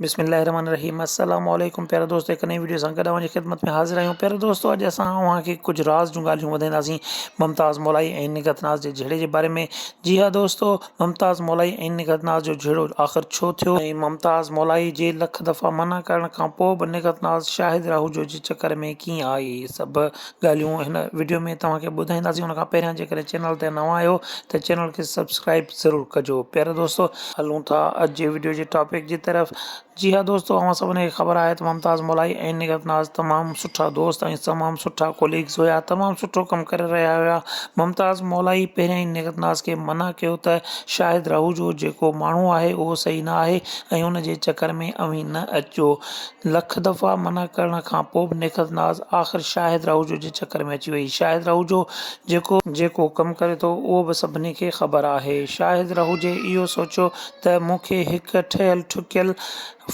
بسم الله الرحمٰن الرحيم السلام عليڪم پيارا دوستو هڪ نئين وڊيو سان گڏ اوهان جي خدمت ۾ حاضر آهيون پيارا دوستو اڄ اسان اوهان کي ڪجهه راز جون ڳالهيون ٻڌائينداسين ممتاز مولائي ۽ نگهت ناز جي جهيڙي جي باري ۾ جي ها دوستو ممتاز مولائي ۽ نگهت ناز جو جهيڙو آخر ڇو ٿيو ۽ ممتاز مولائي جي لک دفعا منع ڪرڻ کان پوء به نگهت ناز شاهد راهوجو جي چڪر ۾ ڪيئن آئي سڀ ڳالهيون هن وڊيو ۾ توهان کي ٻڌائينداسين ان کان پهريان جيڪڏهن چينل تي نوان آهيو ته چينل کي سبسڪرائب ضرور ڪجو پيارا دوستو هلون ٿا اڄ جي وڊيو جي ٽاپڪ جي طرف جي ها دوستو اوهان سڀني کي خبر آهي ته ممتاز مولائي ۽ نگهت ناز تمام سٺا دوست ۽ تمام سٺا ڪوليگز هيا تمام سٺو ڪم ڪري رهيا هيا ممتاز مولائي پهريان ئي نگهت ناز کي منع ڪيو ته شاهد راهوجو جيڪو ماڻهو آهي اهو صحيح نه آهي ۽ ان جي چڪر ۾ اوهين نه اچجو لک دفعا منع ڪرڻ کان پوء به نيڪٿ ناز آخر شاهد راهوجو جي چڪر ۾ اچي وئي. شاهد راهوجو جيڪو. جيڪو ڪم ڪري ٿو اهو به سڀني کي خبر آهي. شاهد راهوجي اهو سوچيو ته مون کي هڪ ٺهيل ٺڪيل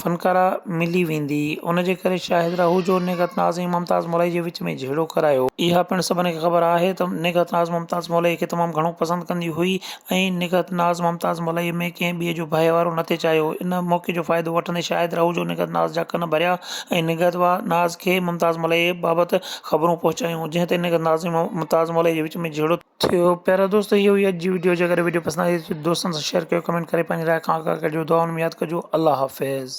فنڪاره ملي ويندي. ان جي ڪري شاهد راهوجو نيڪٿ ناز ۽ ممتاز مولائي جي وچ ۾ جهيڙو ڪرايو. اها پڻ سڀني کي خبر آهي ته نيڪٿ ناز ممتاز مولائي کي تمام گهڻو پسند ڪندي هئي. ائين نگهت ناز ممتاز ملائيء ۾ ڪنهن ٻئي جو ڀائي وارو نه ٿي چاهيو هو. ان موقعي جو فائدو وٺندي شاهد رهوجو نگهت ناز جا ڪن ڀريا ۽ نگهت ناز کي ممتاز ملائيء بابت خبرون پهچايون، جنهن تي نگهت ناز ۽ ممتاز ملائيء جي وچ ۾ جهيڙو ٿيو. پيارا دوستو اهو هئي اڄ جي وڊيو جيڪڏهن وڊيو پسند آئي ته دوستن سان شيئر ڪيو ڪمينٽ ڪري پنهنجي راء کان آگاهه ڪجو دعائن ۾ ياد ڪجو الله حافظ.